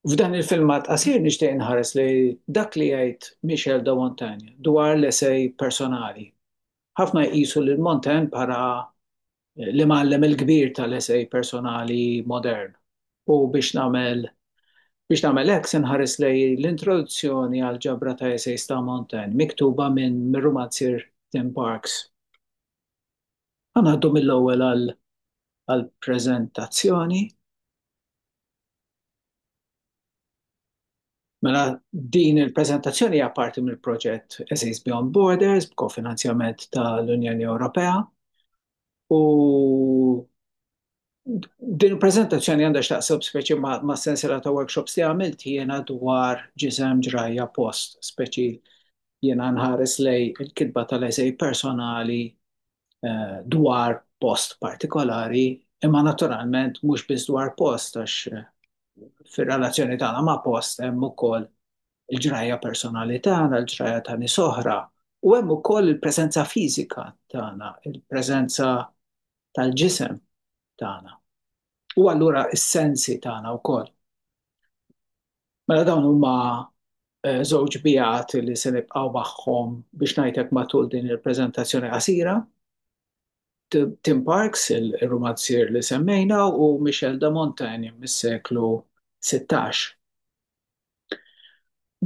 F'dan il-filmat qasir nixtieq inħares lejn dak li jgħid Michel de Montaigne dwar l-esej personali. Ħafna jqisu lil Montaigne bħala l-imgħallem il-kbir tal-esej personali modern u biex nagħmel biex nagħmel hekk se nħares lejn l-introduzzjoni għal ġabra ta' esejs ta' Montaigne miktuba minn mir-rumanzier Tim Parks. Ħa ngħaddu mill-ewwel għall-preżentazzjoni. Mela din il-preżentazzjoni hija parti mill-proġett Essays Beyond Borders b'kofinanzjament tal-Unjoni Ewropea u Din il-prezentazzjoni għandha x'taqseb speċi ma' sensiela ta' workshops li għamilt jiena dwar ġisem ġrajja post, speċi jiena nħares lej il-kitba tal-eżej personali eh, dwar post partikolari, imma naturalment mhux biss dwar post għax eh, fir-relazzjoni tagħna ma' post hemm ukoll il-ġrajja personali tagħna, il-ġrajja ta' nies oħra, u hemm ukoll il-preżenza fiżika tagħna, il-preżenza tal-ġisem tagħna u allura s-sensi tagħna wkoll. Mela dawn huma eh, żewġ bijat li se nibqgħu magħhom biex ngħidlek matul din il-preżentazzjoni qasira. Tim Parks, il-romanzier li semmejna, u Michel de Montaigne mis-seklu 16.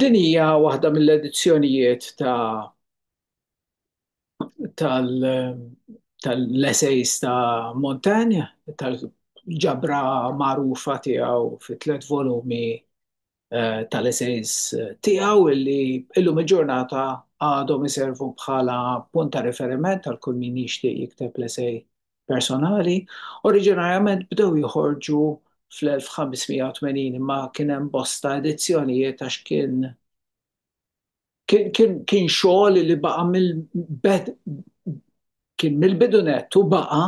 Din hija waħda mill-edizzjonijiet ta' tal-essays ta' Montaigne, tal-ġabra magħrufa tiegħu fi tliet volumi eh, tal-essays tiegħu illi illum il-ġurnata għadhom iservu bħala punt ta' riferiment għal kull min jixtieq jikteb l-essay personali. Oriġinarjament bdew joħorġu fl-1580 imma kien hemm bosta edizzjonijiet għax kien kien xogħol li baqa' mill-bed kien mill-bidu nett u baqa'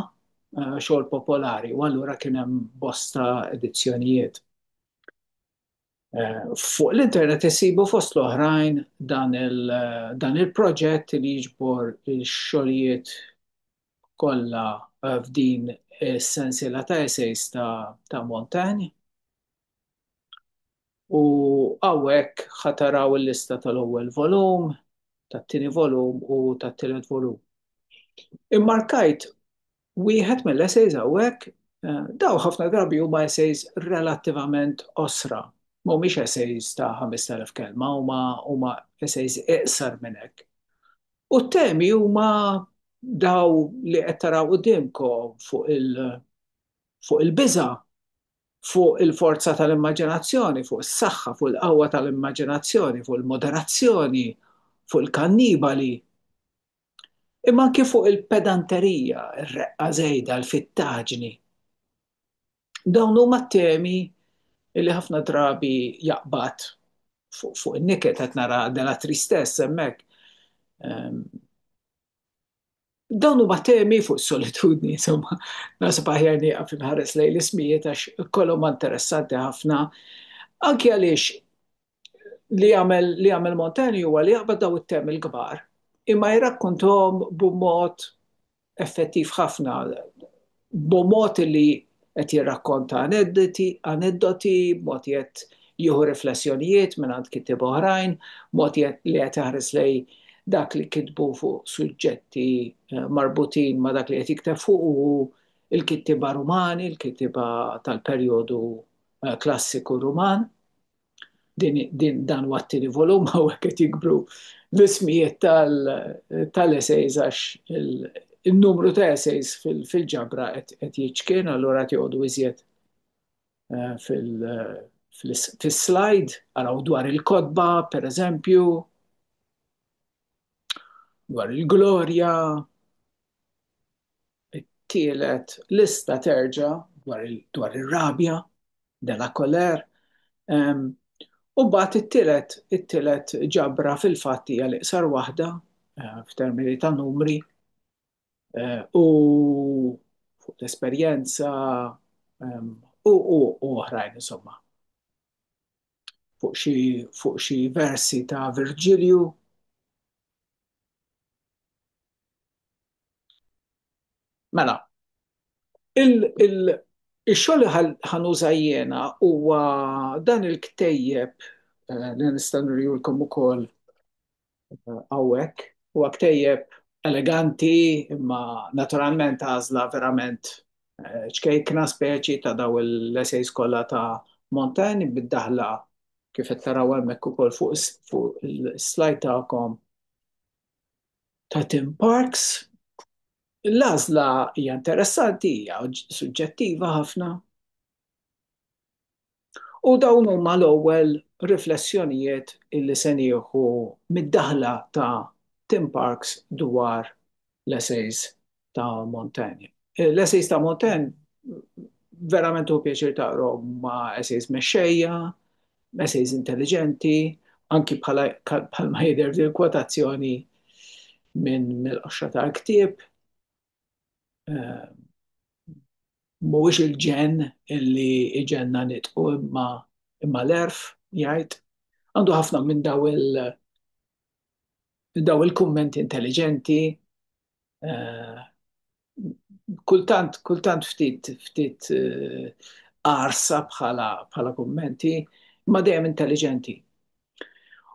eh, xogħol popolari u allura kien hemm bosta edizzjonijiet. Eh, fuq l-internet isibu fost l-oħrajn dan eh, il-proġett li jiġbor il-xogħlijiet kollha f'din is-sensiela ta' essays ta' Montaigne U hawnhekk ħa taraw il-lista tal-ewwel volum, tat-tieni volum u tat-tielet volum. Immarkajt wieħed mill-essays hawnhekk, dawn ħafna drabi huma essays relattivament qosra, mhumiex essays ta' 5,000 kelma, huma huma essays iqsar minn hekk. U t-temi huma dawn li qed taraw quddiemkom fuq il-biża', fuq il-forza tal-immaġinazzjoni, fuq is-saħħa, fuq il-qawwa tal-immaġinazzjoni, fuq il-moderazzjoni, fuq il-kannibali, imma anke fuq il-pedanterija, ir-reqqa żejda, l-fittaġni. Dawn huma temi li ħafna drabi jaqbad fuq in-niket qed nara dela tristess hemmhekk. Ehm, Dawn huma temi fuq solitudni, insomma, nasib aħjar nieqaf inħares lejn l-ismijiet għax kollhom interessanti ħafna. Anki għaliex li jagħmel li jagħmel Montani huwa li jaqbad daw it-temi l-kbar imma jrakkontom b'mod effettiv ħafna b'mod li qed jirrakkonta aneddoti, b'mod li qed jieħu riflessjonijiet mingħand kittieba oħrajn, b'mod li qed iħares lejn dak li kitbu fuq suġġetti marbutin ma' dak li qed jikteb fuqu hu, il-kittieba Rumani, il-kittieba tal-perjodu klassiku Ruman. dan huwa t-tieni volum hawnhekk qed jikbru l-ismijiet tal-essays għax il-numru ta' essays fil-ġabra qed jiċkien allura qed joqogħdu iżjed eh, fil-slide eh, araw dwar il-kotba pereżempju dwar il-glorja It-tielet lista terġa' dwar ir-rabja, de la colère, u mbagħad it-tielet it-tielet ġabra fil-fatt hija l-iqsar waħda f'termini ta' numri u fuq l-esperjenza u u u oħrajn insomma. Fuq xi fuq xi versi ta' Virġilju. Mela, il-xogħol li ħanuża jiena huwa dan il-ktejjeb eh, li nista' nurjulkom ukoll eh, hawnhekk. Huwa ktejjeb eleganti, imma naturalment għażla verament eh, ċkejkna speċi ta' daw l-esej skola ta' Montaigne bid-daħla kif qed taraw hemmhekk ukoll fuq is-slajd tagħkom ta' Tim Parks. L-għażla hija interessanti, hija suġġettiva ħafna. U dawn huma l-ewwel riflessjonijiet li se nieħu mid-daħla ta' Tim Parks dwar l-essays ta' Montaigne. L-essays ta' Montaigne verament u pjaċir taqrom ma' essays mexxejja, essays intelligenti, anki bħala ma jidher fil kwotazzjoni minn mill-qoxra tal-ktieb. Eh, mhuwiex il-ġen illi iġenna nitqu imma imma l-erf jgħid. Għandu ħafna minn daw il- daw il-kummenti intelligenti kultant, kultant ftit, ftit arsa eh, bħala, bħala kummenti, ma dejjem intelligenti.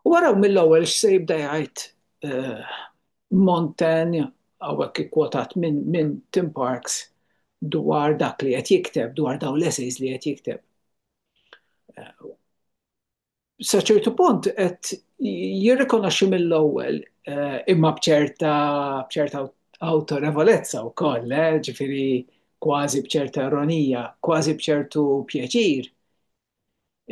U waraw mill-ewwel x'se jibda jgħid eh, Montaigne għawek ikkwotat minn min Tim Parks dwar dak li qed jikteb, dwar daw l-essays li qed jikteb. Eh, sa ċertu punt qed jirrikonoxxi mill-ewwel eh, imma bċerta bċerta autorevolezza wkoll, eh, ġifieri kważi bċerta ironija, kważi bċertu pjaċir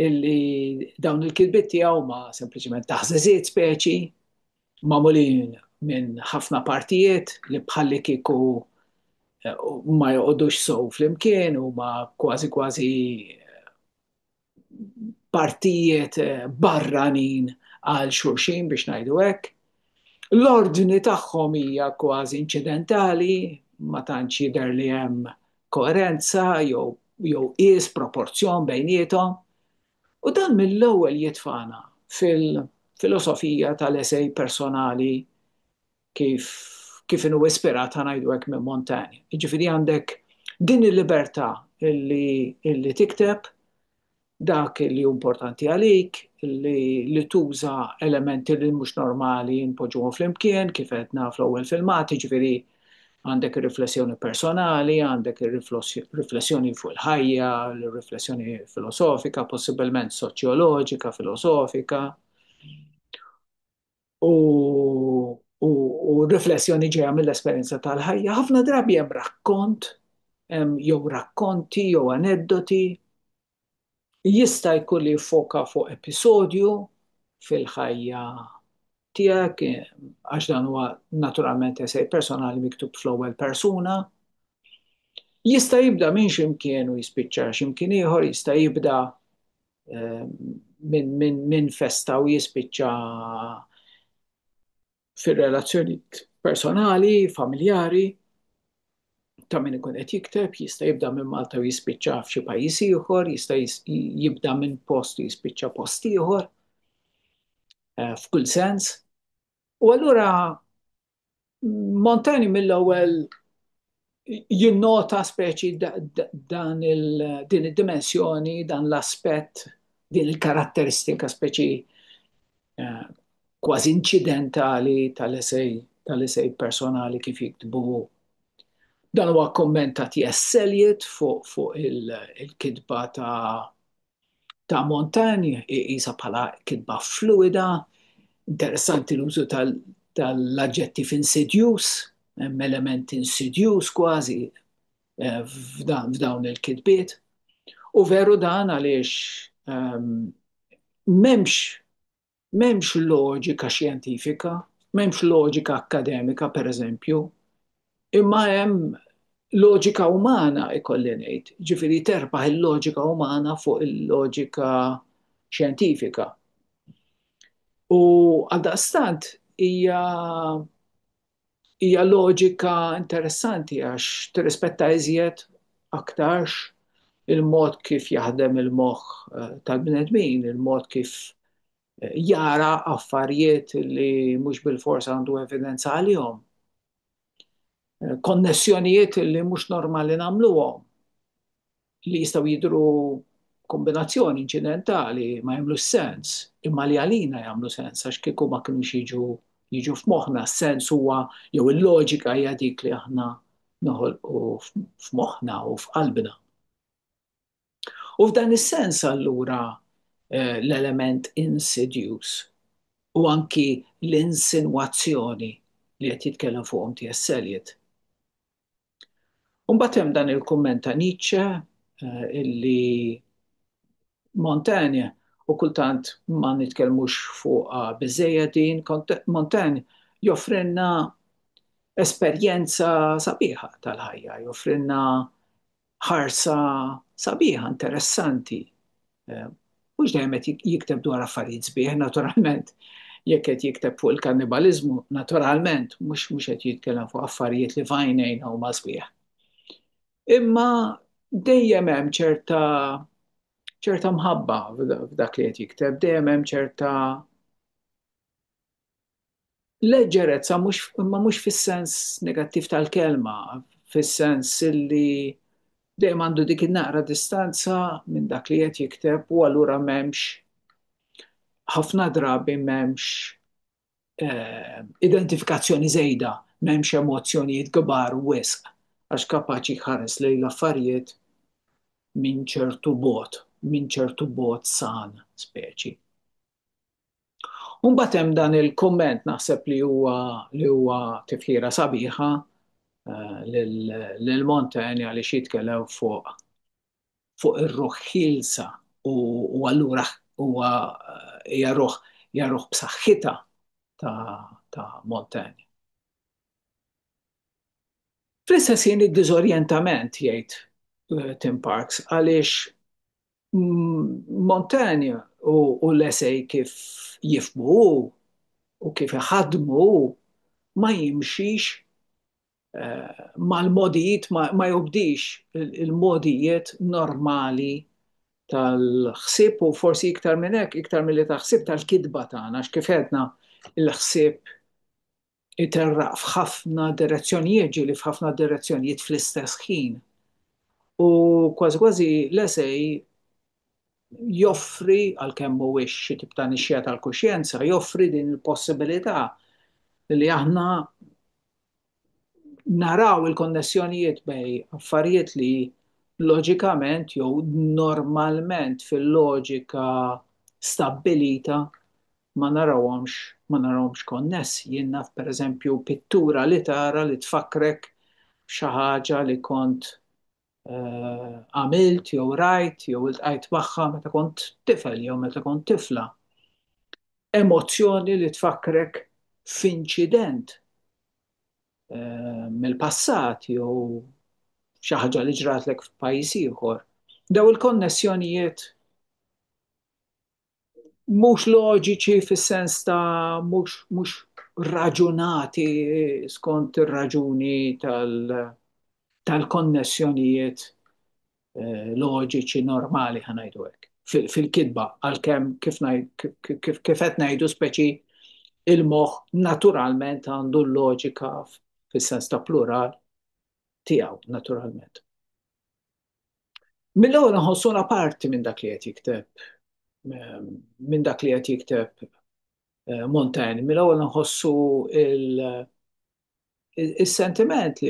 illi dawn il-kilbit tiegħu ma sempliċement taħżeżiet speċi magħmulin minn ħafna partijiet li bħalli kieku eh, ma joqodux sow flimkien u ma kważi kważi partijiet eh, barranin għal xulxin biex ngħidu hekk. L-ordni tagħhom hija kważi inċidentali, ma tantx jidher li hemm koerenza jew jew is proporzjon bejnietom. U dan mill-ewwel jitfana fil-filosofija tal-esej personali kif kif inhu ispirat ngħidu hekk minn Montaigne. Jiġifieri għandek din il-libertà li, li tikteb dak li hu importanti għalik, li, li tuża elementi li mhux normali npoġġuhom flimkien kif qedna fl-ewwel filmati, jiġifieri għandek ir-riflessjoni personali, għandek ir-riflessjoni fuq il-ħajja, l-riflessjoni filosofika, possibilment soċjoloġika, filosofika. u riflessjoni ġejja mill-esperjenza tal-ħajja, ħafna drabi hemm rakkont, jew rakkonti, jew aneddoti, jista' jkun li jiffoka fuq episodju fil-ħajja tiegħek, għax dan huwa naturalment esej personali miktub fl-ewwel persuna. Jista' jibda minn ximkien u jispiċċa ximkien ieħor, jista' jibda minn festa u jispiċċa fir-relazzjoni personali, familjari, ta' min ikun qed jikteb, jista' jibda minn Malta u jispiċċa f'xi pajjiż ieħor, jista' jibda minn post u jispiċċa post ieħor, eh, f'kull sens. U allura Montaigne mill-ewwel jinnota speċi dan din id-dimensjoni, dan l-aspett, din il-karatteristika speċi eh, kważi inċidentali tal-esej tal-esej personali kif jiktbu. Dan huwa kommentat jesseljiet fuq fuq il-kitba ta' ta' Montagny jqisha bħala kitba fluida, interessanti l-użu tal-aġġettiv insidjuż, hemm element insidjuż kważi eh, f'dawn il-kitbiet. U veru dan għaliex ehm, m'hemmx M'hemmx loġika xjentifika, m'hemmx loġika akkademika pereżempju, imma hemm loġika umana ikolli ngħid, jiġifieri terbaħ il-loġika umana fuq il-loġika xjentifika. U għaldaqstant hija Hija loġika interessanti għax tirrispetta iżjed aktarx il-mod kif jaħdem il-moħħ eh, tal-bnedmin, il-mod kif eh, jara affarijiet li mhux bil-forsa għandu evidenza għalihom. Eh, konnessjonijiet li mhux normali nagħmluhom. li jistgħu jidhru kombinazzjoni inċidentali ma jagħmlux sens, imma li għalina jagħmlu sens għax kieku ma kienux jiġu jiġu f'moħħna, s-sens huwa jew il-loġika hija dik li aħna noħolqu f'moħħna u f'qalbna. U f'dan is-sens allura eh, l-element insidjus u anki l-insinwazzjoni li qed jitkellem fuqhom T.S. Eliot U mbagħad hemm dan il-kumment ta' Nietzsche illi Montaigne u kultant ma nitkellmux fuq biżejja din, Montaigne joffrinna esperjenza sabiħa tal-ħajja, joffrinna ħarsa sabiħa, interessanti. Eh, mhux dejjem qed jikteb dwar affarijiet sbieħ, naturalment. Jekk qed jikteb fuq il-kannibaliżmu, naturalment mhux mhux qed jitkellem fuq affarijiet li fajnejn huma sbieħ. Imma dejjem hemm ċerta ċerta mħabba f'dak li qed jikteb, dejjem hemm ċerta Leġġerezza mhux imma mhux fis-sens negattiv tal-kelma, fis-sens li dejjem għandu dik in-naqra distanza minn dak li qed jikteb u allura m'hemmx ħafna drabi m'hemmx eh, identifikazzjoni żejda, m'hemmx emozzjonijiet kbar wisq għax kapaċi jħares lejn l-affarijiet minn ċertu bogħod, minn ċertu bogħod san speċi. U mbagħad hemm dan il-kumment naħseb li huwa li huwa tifħira sabiħa eh, lil Montaigne għaliex jitkellem fuq fuq ir-ruħ ħilsa u allura huwa eh, hija ruħ hija ruħ b'saħħitha ta' Montaigne. Fl-istess jien id-diżorjentament jgħid eh, Tim Parks għaliex Montaigne u l-esej kif jifhmu hu u kif iħaddmu hu ma jimxix eh, mal-modijiet, ma jobdix il-modijiet normali tal-ħsieb u forsi iktar minn hekk, iktar milli tal-ħsieb tal-kitba tagħna, x'kif għedna il-ħsieb iterraq f'ħafna direzzjonijiet, ġieli f'ħafna direzzjonijiet fl-istess ħin. U kważi kważi l-esej joffri, għalkemm mhuwiex xi tip ta' nixxija tal-kuxjenza, joffri din il-possibilità li aħna naraw il-konnessjonijiet bej affarijiet li loġikament jew normalment fil-loġika stabbilita ma narawhomx ma narawhomx konnessi. Jien naf pereżempju pittura li tara li tfakkrek b'xi ħaġa li kont għamilt jew rajt jew iltqajt magħha meta kont tifel jew meta kont tifla. Emozzjoni li tfakkrek f'inċident mill-passat jew xi ħaġa li ġratlek f'pajjiż ieħor. Dawn il-konnessjonijiet mhux loġiċi fis-sens ta' mhux mhux raġunati skont ir-raġuni tal tal-konnessjonijiet eh, loġiċi normali ħa ngħidu hekk fil- fil-kitba għalkemm kif ngħid- kif- kif kif- kif qed ngħidu speċi il-moħħ naturalment għandu l-loġika f- fis-sens ta' plural tiegħu naturalment. Mill-ewwel nħossuna parti minn dak li qed jikteb ehm, minn dak li qed jikteb eh, Montaigne, mill-ewwel nħossu il-sentiment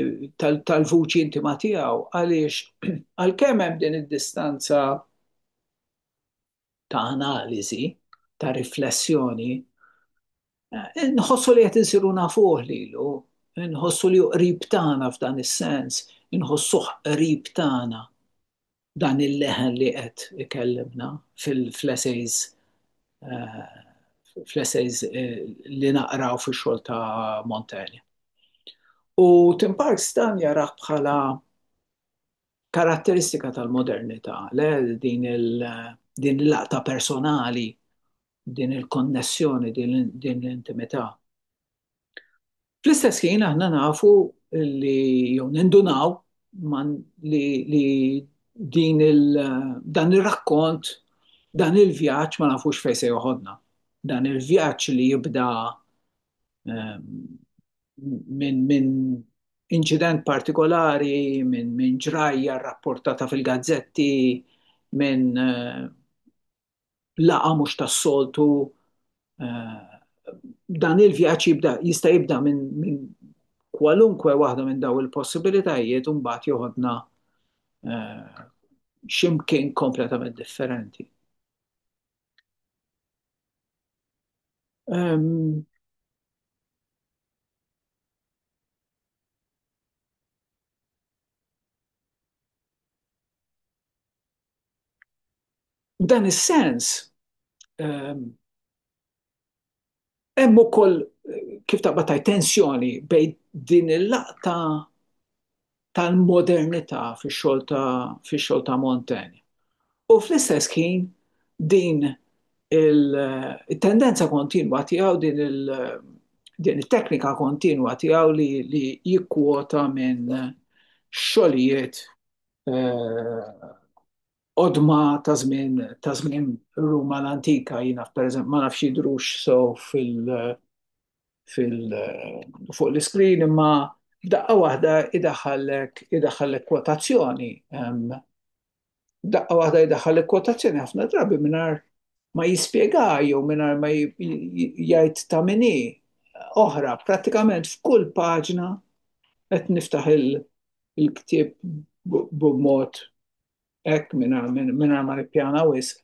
tal-vuċi intima tiegħu għaliex għalkemm hemm din id-distanza ta' analiżi, ta' riflessjoni, nħossu li qed insiru nafuh lilu, nħossu li qrib tagħna f'dan is-sens, inħossuh qrib tagħna dan il-leħen li qed ikellimna fl-essays fl-essays eh, li naqraw fix-xogħol ta' Montaigne. U Tim Parks dan jarah bħala Karatteristika tal-modernità, le, din il-laqta personali, din il-konnessjoni, din l-intimità. Fl-istess ħin aħna nafu li jew nindunaw li din il dan ir-rakkont, dan il-vjaġġ ma nafux fejn se joħodna. Dan il-vjaġġ li jibda minn min inċident partikolari, minn min ġrajja rapportata fil-gazzetti, minn uh, laqa mhux tas-soltu. Uh, dan il-vjaġġ jibda jista' jibda minn min kwalunkwe waħda minn daw il-possibilitajiet u mbagħad joħodna uh, ximkien kompletament differenti. Um, F'dan is-sens, ehm, hemm ukoll kif taqbad tensjoni bejn din il-laqta tal-modernità fix-xogħol ta' fix-xogħol ta' Montaigne. U fl-istess ħin din il-tendenza kontinwa tiegħu din il din it-teknika kontinwa tiegħu li, li jikkwota minn xogħlijiet eh, odma ta' żmien ta' żmien Ruma l-antika jiena pereżempju ma nafx jidrux so fil fuq l-iskrin imma b'daqqa waħda idaħħallek idaħħallek kwotazzjoni. B'daqqa waħda idaħħallek kwotazzjoni ħafna drabi mingħajr ma jispjega jew mingħajr ma jgħid ta' minni oħra prattikament f'kull paġna qed niftaħ il-ktieb b'mod hekk mingħajr ma nippjana wisq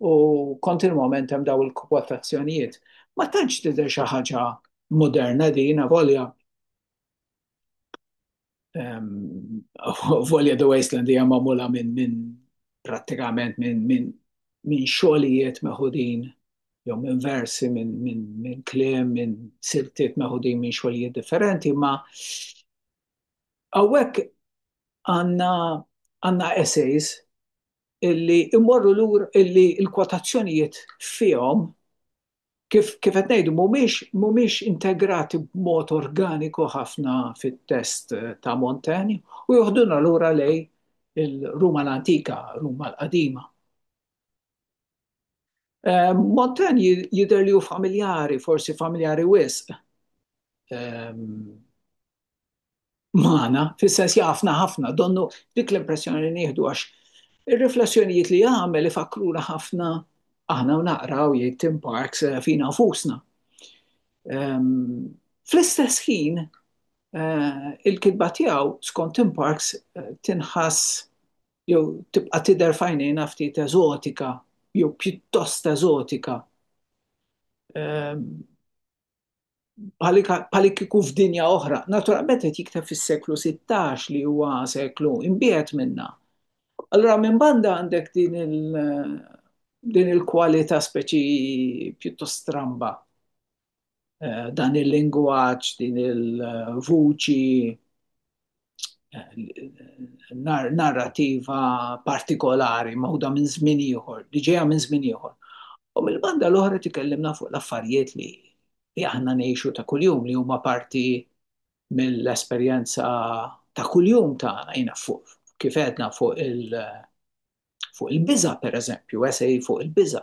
u kontinwament hemm daw il-kwotazzjonijiet. Ma tantx tidher xi ħaġa moderna din avolja volja The Wasteland hija magħmula minn min, prattikament minn min, min xogħlijiet meħudin jew minn versi minn min, min kliem minn siltiet meħudin minn xogħlijiet differenti ma hawnhekk għandna għandna essays illi immorru lur illi l-kwotazzjonijiet fihom kif kif qed ngħidu mhumiex mhumiex integrati b'mod organiku ħafna fit-test ta' Montaigne u joħduna lura lej il-Ruma l-antika, Ruma l-qadima. Eh, Montaigne jidher li hu familjari, forsi familjari wisq, ehm, magħna, fis-sens jafna ħafna, donnu dik l-impressjoni li nieħdu għax ir-riflessjonijiet li jagħmel ifakruna ħafna aħna naqraw jgħid Tim Parks eh, fina fusna. Ehm, fl-istess ħin eh, il-kitba tiegħu skont Tim Parks eh, tinħass jew tibqa' tidher fajnejna ftit eżotika jew pjuttost eżotika. Ehm, bħalik kieku f'dinja oħra. Naturalment qed jikteb fis-seklu 16 li huwa seklu imbiet minna. Allura minn banda għandek din il- din il-kwalità speċi pjuttost stramba. Eh, dan il-lingwaġġ, din il-vuċi narrativa partikolari mawda minn żmien ieħor, li ġejja minn żmien ieħor. U mill-banda l-oħra tikellimna fuq l-affarijiet li li aħna ngħixu ta' kuljum li huma parti mill-esperjenza ta' kuljum ta' jina fuq kif għedna fuq il- fuq il-biża pereżempju, esej fuq il-biża.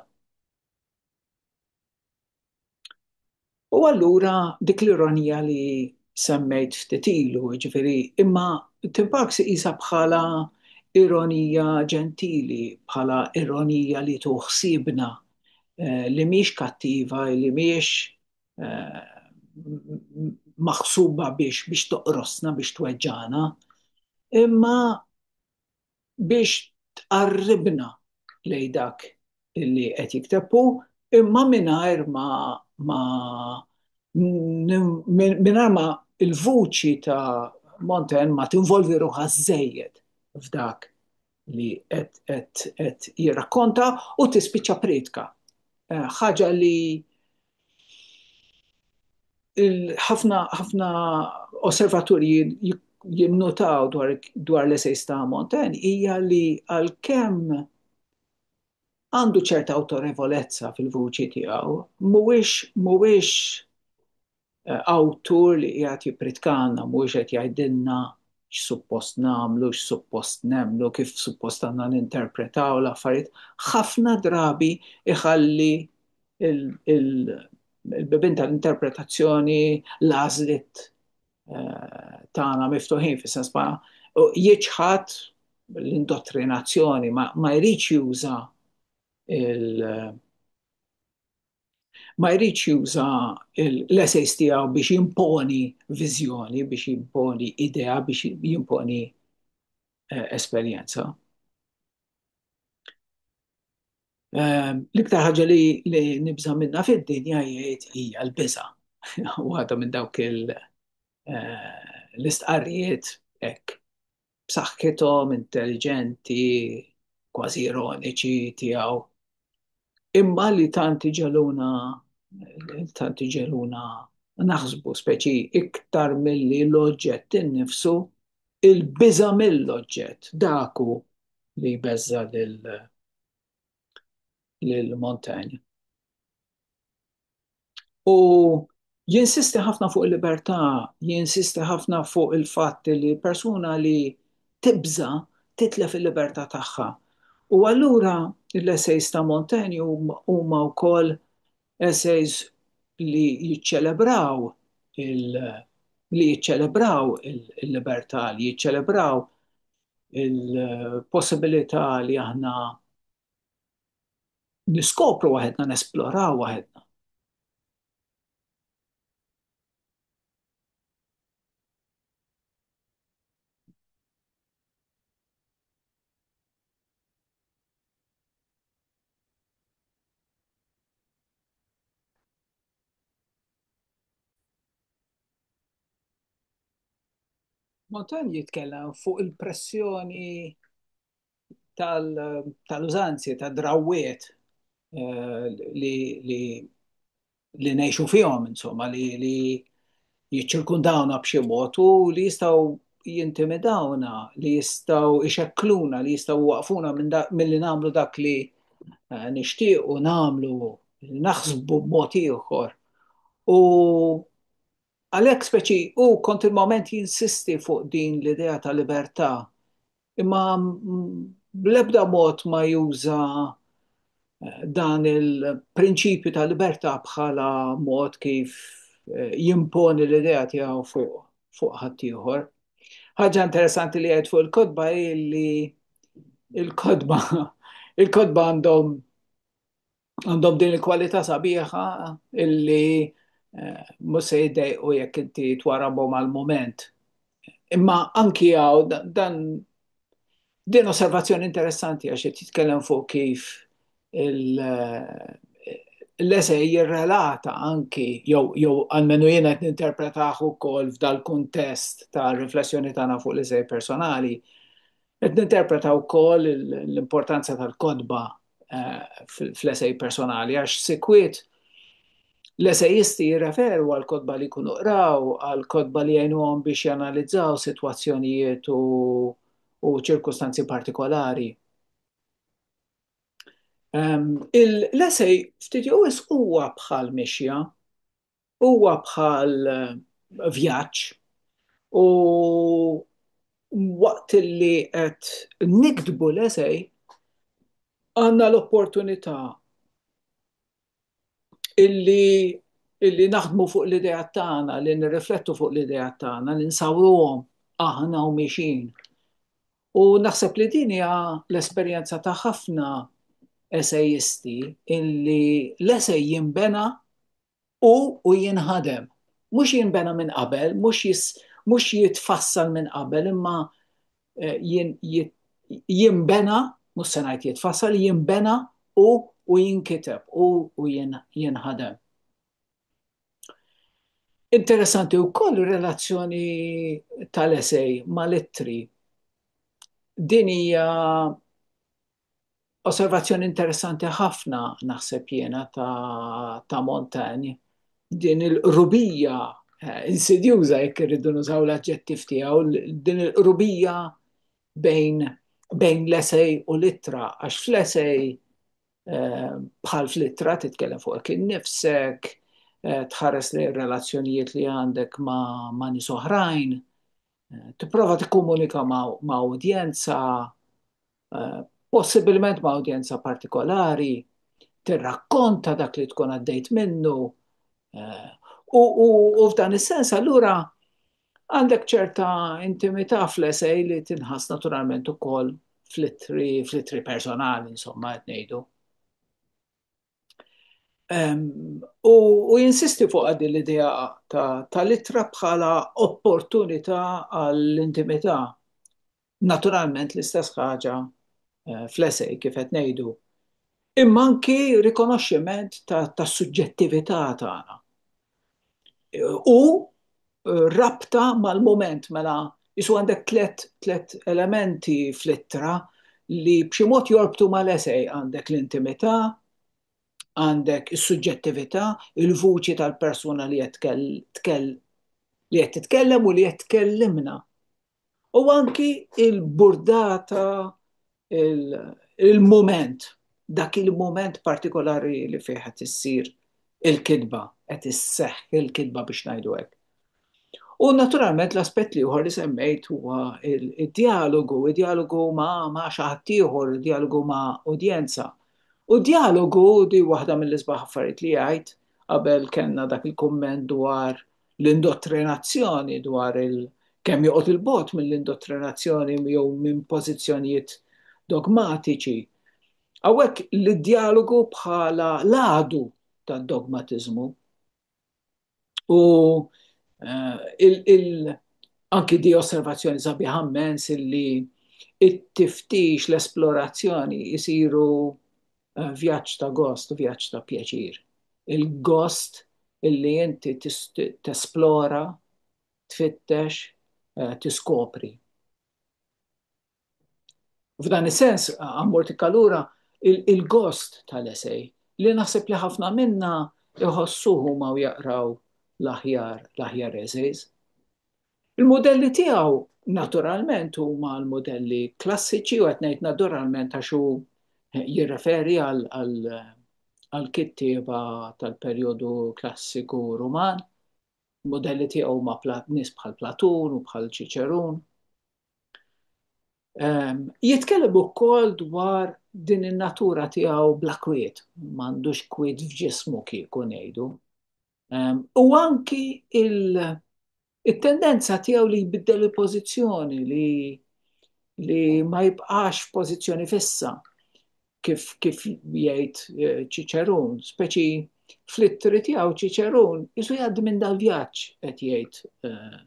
U allura dik l-ironija li semmejt ftit ilu, ġifieri, imma Tim Parks iqisha bħala ironija ġentili, bħala ironija li tu ħsiebna, li mhix kattiva, li mhix maħsuba biex toqrosna, biex tweġġagħna, imma biex tqarribna lejn dak li qed jikteb hu imma mingħajr ma ma mingħajr ma l-vuċi ta' Montaigne ma tinvolvi ruħha żżejjed f'dak li qed jirrakkonta u tispiċċa prietka. Ħaġa li ħafna osservaturi jinnutaw dwar l-esejs ta' Montaigne hija li għalkemm għandu ċerta awtorevolezza fil-vuċi tiegħu, mhuwiex awtur li qiegħed jippritkanna, mhuwiex qed jgħidilna x'suppost nagħmlu, x'suppost nemmnu, kif suppost għandna ninterpretaw l-affarijiet. Ħafna drabi jħalli il-bibin tal-interpretazzjoni l-għażliet eh, tagħna miftuħin fis-sens ma jiċħad l-indottrinazzjoni ma jridx juża il- ma jridx juża l-essays tiegħu biex jimponi viżjoni, biex jimponi idea, biex jimponi eh, esperjenza. L-iktar ħaġa li nibża minna fid-dinja jgħid hija l-biża. Waħda minn dawk l-istqarrijiet hekk b'saħħithom, intelliġenti, kważi ironiċi tiegħu. Imma li tant iġegħluna tant iġegħluna naħsbu speċi iktar milli l-oġġett innifsu, il-biża' mill-oġġett, dak hu li jbeżża' lil Montaigne. U jinsisti ħafna fuq il-libertà, jinsisti ħafna fuq il-fatt li persuna li tibża titlef il-libertà tagħha. U allura l-essays ta' Montaigne huma wkoll essays li jiċċelebraw li jiċċelebraw il-libertà, li jiċċelebraw il-possibilità li aħna niskopru waħedna, nesploraw waħedna. Motan jitkellem fuq il-pressjoni tal-użanzi, tal tal-drawwiet eh, li li li nejxu fihom, insomma, li li jiċċirkundawna b'xi mod u li jistgħu jintimidawna, li jistgħu ixekkluna, li jistgħu waqfuna milli nagħmlu dak li eh, nixtiequ nagħmlu, naħsbu b'mod ieħor. U għalhekk speċi u kontinwament jinsisti fuq din l-idea ta' libertà Imma bl-ebda mod ma juża dan il-prinċipju ta' libertà bħala mod kif jimponi l-idea tiegħu fuq ħaddieħor. Ħaġa interessanti li għedt fuq il-kotba hi li il-kotba il-kotba għandhom għandhom din il-kwalità sabiħa illi eh, mhux se jiddejqu jekk inti twarabhom għal mument. Imma anki għaw dan din osservazzjoni interessanti għax qed jitkellem fuq kif eh, l-esej jirrelata anki jew jew almenu jiena qed ninterpretaħ ukoll f'dal-kuntest ta' riflessjoni tagħna fuq l-esej personali. Qed ninterpreta wkoll l-importanza tal-kodba fl-esej personali, għax sikwit l-esejisti jirreferu għal kodba li kunu qraw, għal kodba li għajnuhom biex janalizzaw situazzjonijiet u, u ċirkustanzi partikolari. Um, l-esej ftit jowis huwa bħal mixja, Huwa bħal vjaġġ u waqt li qed niktbu l-esej għandna l-opportunità li naħdmu fuq l-ideat tagħna, li nirriflettu fuq l-ideat tagħna, li nsawruhom aħna u mixin. U naħseb li din hija l-esperjenza ta' ħafna esejisti illi l-esej jinbena Hu u jinħadem. Mhux jinbena minn qabel, mhux jis, mhux jitfassal minn qabel, imma eh, jin, jit, jinbena, mhux se ngħid jitfassal, jinbena u u jinkiteb u u jin, jinħadem. Interessanti wkoll ir-relazzjoni tal-esej mal-ittri. Din hija Osservazzjoni interessanti ħafna naħseb jiena ta', ta Montagne. Din il-qrubija eh, insidjuża jekk irridu nużaw l-aġġettiv tiegħu, din il-qrubija bejn bejn l-esej u l-ittra, għax fl-esej eh, bħal fl-ittra titkellem fuq kien nifsek, eh, tħares li relazzjonijiet li għandek ma', ma nis oħrajn, eh, tipprova tikkomunika ma' udjenza, possibilment ma' udjenza partikolari, tirrakkonta dak li tkun għaddejt minnu. U f'dan is-sens allura għandek ċerta intimità fl-esej li tinħass naturalment ukoll fl-ittri fl-ittri personali, insomma, qed ngħidu. U jinsisti fuq għaddi l-idea ta' litra bħala opportunità għall-intimità. Naturalment l-istess ħaġa eh, fl-esej kif qed ngħidu. Imma anki rikonoxximent ta' suġġettività tagħna. U rabta mal-mument mela isu għandek tliet tliet elementi fl-ittra li b'xi mod jorbtu mal-esej għandek l-intimità, għandek is-suġġettività, il-vuċi tal-persuna li qed li qed titkellem u li qed tkellimna. U anki il-burdata, il-moment, dak il-moment partikolari li fih qed issir il-kitba, qed isseħħ il-kitba biex ngħidu hekk. U naturalment l-aspett l-ieħor li semmejt huwa d-djalogu, id-djalogu ma' xi ħadd ieħor, id-djalogu ma' udjenza. U d-djalogu di waħda mill-isbaħ affarijiet li għidt qabel kellna dak il-kumment dwar l-indottrinazzjoni dwar il- kemm joqgħod 'il bogħod mill-indottrinazzjoni jew minn pożizzjonijiet dogmatiċi. Hawnhekk l-djalogu bħala l-għadu tad-dogmatiżmu u eh, anki di osservazzjoni sabiħa immens li it-tiftix, l-esplorazzjoni jisiru vjaġġ ta' gost u vjaġġ ta' pjaċir. Il-gost illi inti tesplora, tfittex, eh, tiskopri. F'dan is-sens, għammur tikkalura il-gost tal-esej li naħseb li ħafna minna iħossuhu ma u jaqraw l-aħjar, l-aħjar eżejz. Il-mudelli tiegħu naturalment huma l-mudelli klassiċi u qed ngħid naturalment għax hu jirreferi għall-kittieba tal-perjodu klassiku Ruman. Il-mudelli tiegħu huma nies bħal Platun u bħal Ċiċerun. Ehm, jitkellem ukoll dwar din in-natura tiegħu bla kwiet, m'għandux kwiet f'ġismu kieku ngħidu. Ehm, u anki il-tendenza tiegħu li jbiddel il-pożizzjoni li li ma jibqax pożizzjoni fissa kif kif jgħid eh, Ċiċerun, speċi fl-ittri tiegħu Ċiċerun isu jgħaddi minn dal-vjaġġ qed jgħid eh,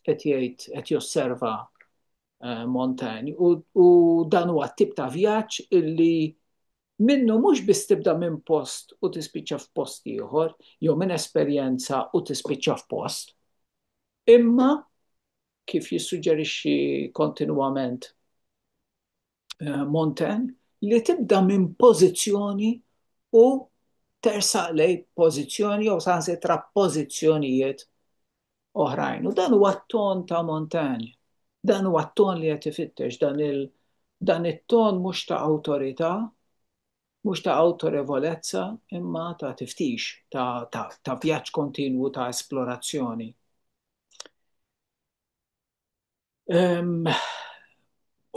qed jgħid qed josserva eh, Montaigne u dan huwa tip ta' vjaġġ illi Minnu mhux biss tibda minn post u tispiċċa f'post ieħor, jew minn esperjenza u tispiċċa f'post, imma, kif jissuġġerixxi kontinwament Montaigne, li tibda minn pożizzjoni u tersaq lejn pożizzjoni jew saħansitra pożizzjonijiet oħrajn. U dan huwa t-ton ta' Montagna. Dan huwa t-ton li qed ifittex dan il- dan it-ton mhux ta' awtorità, mhux ta' awtorevolezza, imma ta' tiftix, ta', ta, ta vjaġġ kontinwu ta' esplorazzjoni.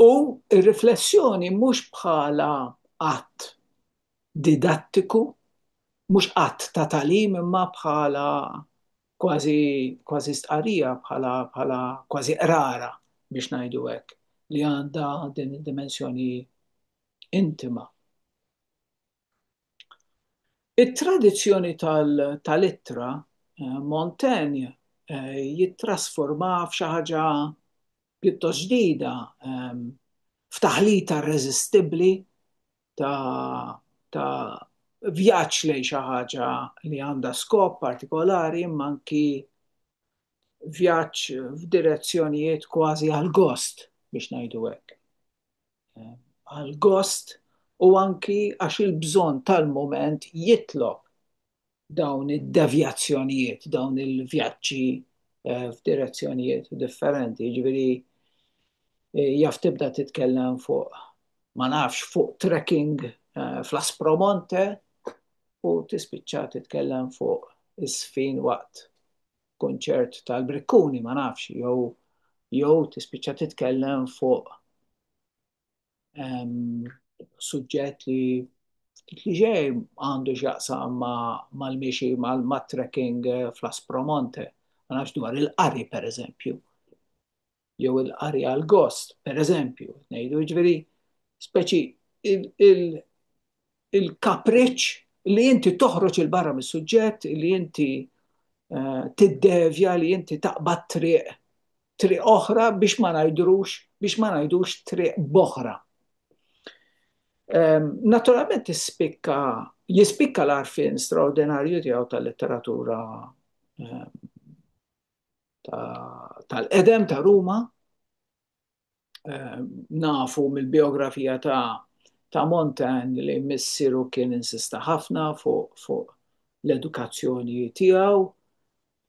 U r-riflessjoni mhux bħala att didattiku, mhux att ta' tagħlim imma bħala kważi kważi stqarrija, bħala bħala kważi qrara biex ngħidu hekk, li għandha din id-dimensjoni intima. It-tradizzjoni tal-ittra Montaigne jittrasformaha f'xi ħaġa pjuttost ġdida, f'taħlita irreżistibbli ta' vjaġġ lejn xi ħaġa li għandha skop partikolari imma anki vjaġġ f'direzzjonijiet kważi għal-gost, biex ngħidu hekk. Għal-gost u anki għax il-bżonn tal-mument jitlob dawn id-devjazzjonijiet, dawn il-vjaġġi f'direzzjonijiet differenti, jiġifieri jaf tibda titkellem fuq ma nafx fuq trekking fl-Aspromonte u tispiċċa titkellem fuq iż-żfin waqt kunċert tal-Brikkuni ma nafx jew jew tispiċċa titkellem fuq ehm, suġġett li li ġej għandu x'jaqsam mal-miexi mat-trekking eh, fl-Aspromonte, ma nafx dwar il-qari pereżempju. jew il-qari għall-gost, per eżempju, ngħidu ġveri, speċi il-kapriċ li inti toħroġ il-barra mis-suġġett, li inti eh, tiddevja, li inti taqbad triq, triq oħra biex ma ngħidrux, biex ma ngħidux triq boħra. Ehm, naturalment jispikka, jispikka l-arfin straordinarju tiegħu tal-letteratura ehm, tal-qedem ta' Ruma. Ehm, nafu mill-biografija ta' ta' Montan li missiru kien insista ħafna fuq fu l-edukazzjoni tiegħu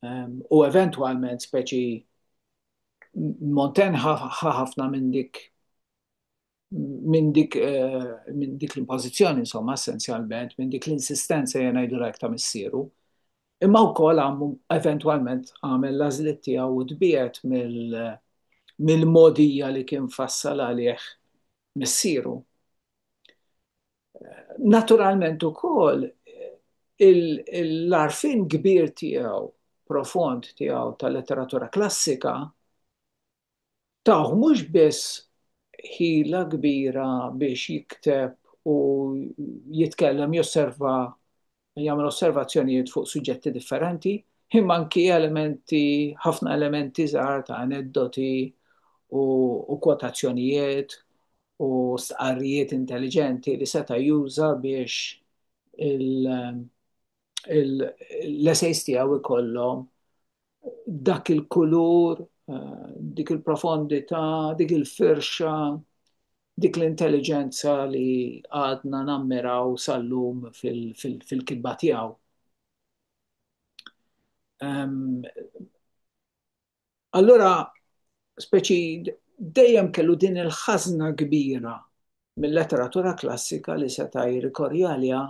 ehm, u eventwalment speċi Montan ħafna minn dik minn dik minn dik l-impożizzjoni insomma essenzjalment minn dik l-insistenza jien ngħidilha hekk ta' missieru. Imma wkoll għamu eventwalment għamel l-għażliet tiegħu u tbiegħed mill-modija li kien fassal għalih missieru. Naturalment ukoll l-għarfien kbir tiegħu profond tiegħu tal-letteratura klassika tawh mhux biss ħila kbira biex jikteb u jitkellem, josserva, jagħmel osservazzjonijiet fuq suġġetti differenti, imma anki elementi, ħafna elementi żgħar ta' aneddoti u u kwotazzjonijiet u stqarrijiet intelliġenti li seta' juża biex il, l-essays tiegħu jkollhom dak il-kulur, eh, dik il-profondità, dik il-firxa, dik l-intelligenza li għadna nammiraw sal-lum fil-kitba tiegħu. Allura speċi dejjem kellu din il-ħażna kbira mil-letteratura klassika li seta' jirrikorri għaliha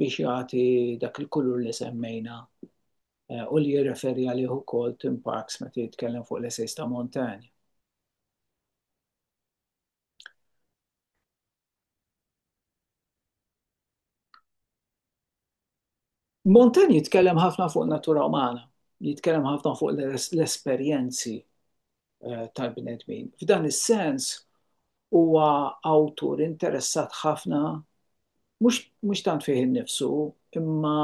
biex jagħti dak il-kulur li semmejna eh, u li jirreferi għalih ukoll Tim Parks meta jitkellem fuq l-esejs ta' Montaigne. Montaigne jitkellem ħafna fuq natura umana, jitkellem ħafna fuq l-esperjenzi eh, tal-bnedmin. F'dan is-sens huwa awtur interessat ħafna mhux tant fih innifsu imma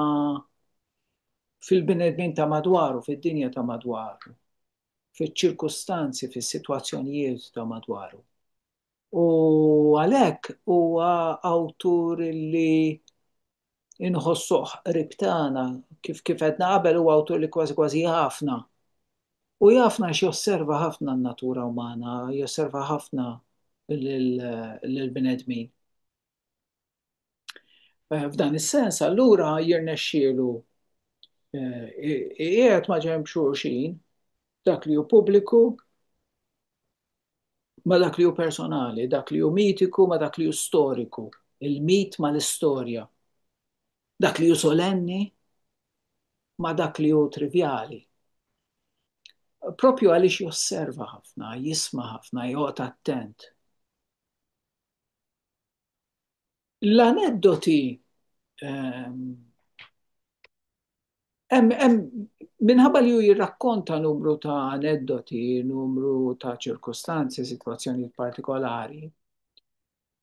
fil-bnedmin ta' madwaru, fid-dinja ta' madwaru, fiċ-ċirkustanzi, fis-sitwazzjonijiet ta' madwaru. U għalhekk huwa awtur li inħossuh qrib tagħna, kif kif għedna qabel huwa awtur li kważi kważi jafna. U jafna għax josserva ħafna n-natura umana, josserva ħafna lill-bnedmin. F'dan is-sens allura jirnexxielu qiegħed ma' ġenb xulxin dak li hu pubbliku ma' dak li hu personali, dak li hu mitiku ma' dak li hu storiku, il-mit ma' l-istorja, dak li hu solenni ma' dak li hu trivjali. Proprju għaliex josserva ħafna, jisma' ħafna, joqgħod attent. l-aneddoti ehm, minħabba li ju jirrakkonta numru ta' aneddoti, numru ta' ċirkustanzi, situazzjoni partikolari,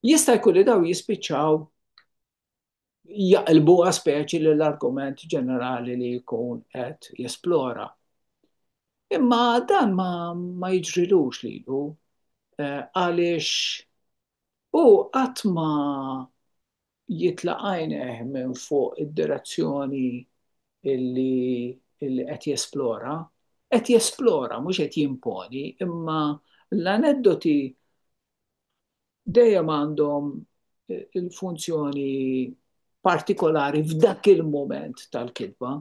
jista' jkun li daw jispiċċaw jaqilbuha speċi li l-argument ġenerali li jkun qed jesplora. Imma dan ma, ma jiġrilux lilu eh, għaliex u qatt ma jitlaqajneh minn fuq id-direzzjoni illi illi qed jesplora, qed jesplora mhux qed jimponi, imma l-aneddoti dejjem għandhom il-funzjoni partikolari f'dak il-moment tal-kitba.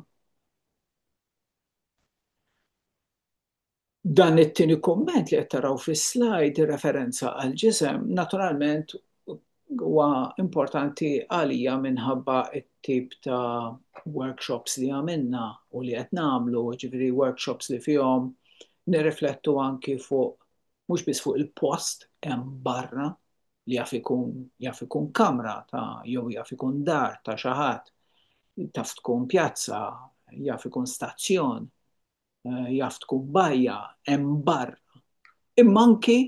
Dan it-tieni komment li qed taraw fis-slide referenza għal ġisem, naturalment huwa importanti għalija minħabba t-tip ta' workshops li għamilna u li qed nagħmlu, ġifieri workshops li fihom nirriflettu anki fuq mhux biss fuq il-post hemm barra li jaf ikun jaf ikun kamra ta' jew jaf ikun dar ta' xi ħadd, taf tkun pjazza, jaf ikun stazzjon, eh, jaf tkun bajja, hemm barra. Imma anki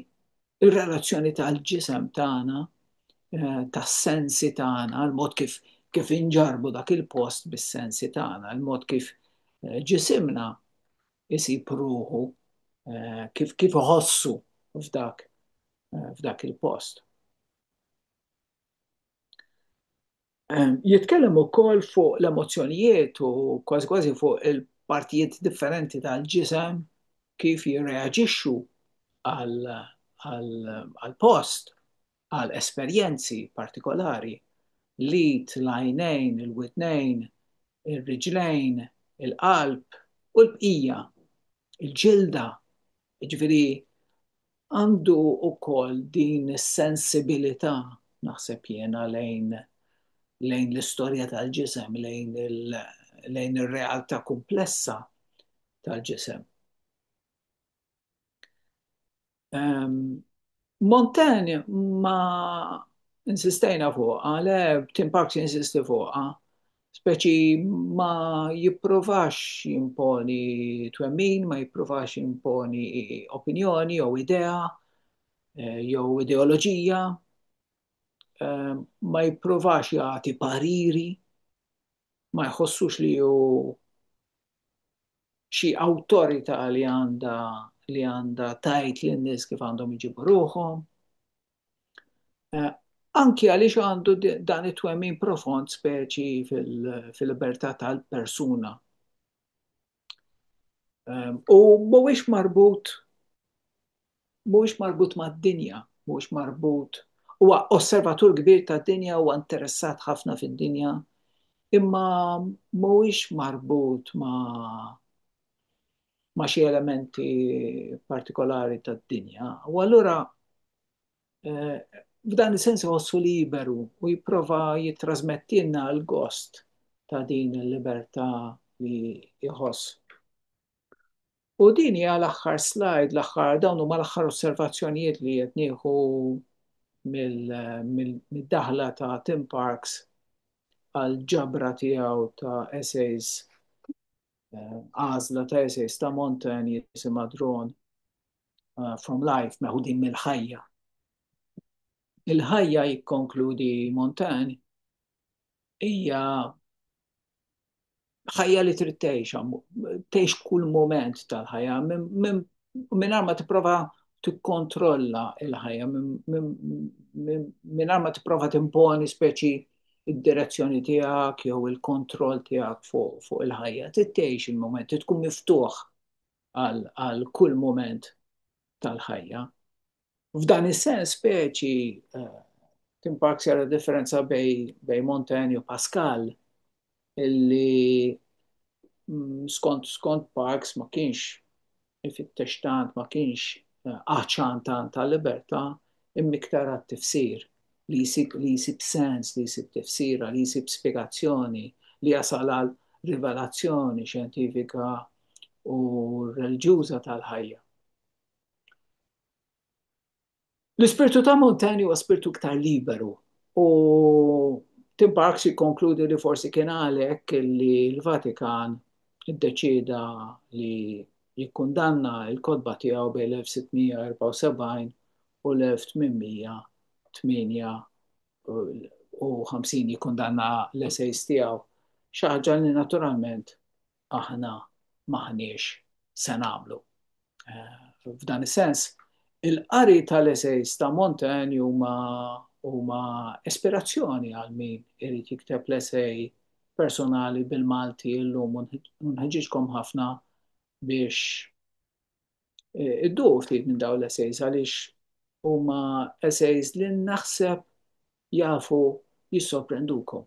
il-relazzjoni tal-ġisem tagħna, eh, tas-sensi tagħna, l-mod kif kif inġarbu dak il-post bis-sensi tagħna, l-mod kif eh, ġisimna isib ruħu, kif kif iħossu f'dak f'dak il-post. Jitkellem ukoll fuq l-emozzjonijiet u kważi kważi fuq il-partijiet differenti tal-ġisem kif jirreaġixxu għal-post għal esperjenzi partikolari, l-id, l-għajnejn, il-widnejn, ir-riġlejn, il-qalb u l-bqija, il-ġilda, jiġifieri għandu wkoll din is-sensibilità naħseb jiena lejn lejn l-istorja tal-ġisem, lejn lejn ir-realtà kumplessa tal-ġisem. Montaigne ma insistejna fuqha, le Tim Parks insisti fuqha, speċi ma jipprovax jimponi twemmin, ma jipprovax jimponi opinjoni jew idea eh, jew ideoloġija, eh, ma jipprovax jagħti pariri, ma jħossux li hu xi awtorità li għandha li għandha tajt lin-nies kif għandhom iġibu ruħhom. Eh, anki għaliex għandu dan it-twemmin profond speċi fil-libertà tal-persuna. Ehm, u mhuwiex marbut Mhuwiex marbut mad-dinja, mhuwiex marbut, huwa osservatur kbir tad-dinja, huwa interessat ħafna fid-dinja, imma mhuwiex marbut ma' ma' xi elementi partikolari tad-dinja, u allura f'dan is-sens iħossu liberu u jipprova jittrasmettilna l-gost ta' din il-libertà li jħoss. U din hija l-aħħar slide, l-aħħar dawn huma l-aħħar osservazzjonijiet li qed nieħu mid-daħla ta' Tim Parks għal ġabra tiegħu ta' essays eh, għażla ta' essays ta' Montan jisimha Drone eh, from Life meħudin mill-ħajja. Il-ħajja jikkonkludi Montan hija ħajja li trid tgħix, tgħix kull moment tal-ħajja, minn ma tipprova tikkontrolla il-ħajja, minn ma tipprova timponi speċi id-direzzjoni tiegħek jew il-kontroll tiegħek fuq il-ħajja. Tittejx il-moment, tkun miftuħ għal kull moment tal-ħajja. F'dan is-sens speċi timparksi għal differenza bej Montaigne u Pascal illi mm, skont skont Parks ma kienx ifittex tant ma kienx eh, għaċan tant ta' libertà immiktar għat-tifsir li jisib li jisib sens, li jisib tifsira, li jisib spiegazzjoni, li jasal għal rivelazzjoni xjentifika u reliġjuża tal-ħajja. L-ispirtu ta' Montaigne huwa spirtu iktar liberu u Tim Parks jikkonkludi li forsi kien għalhekk li l-Vatikan iddeċieda li jikkundanna l-kotba tiegħu bejn l-1674 u l-1858 jikkundanna l-essays tiegħu, xi ħaġa li naturalment aħna m'aħniex se nagħmlu. F'dan is-sens, il-qari tal-eseys ta' Montaigne huma huma ispirazzjoni għal min irid jikteb l-esej personali bil-Malti llum u nħeġġiġkom ħafna biex e, iddu ftit minn dawn l-eseys għaliex huma eseys li naħseb jafu jissorprendukom.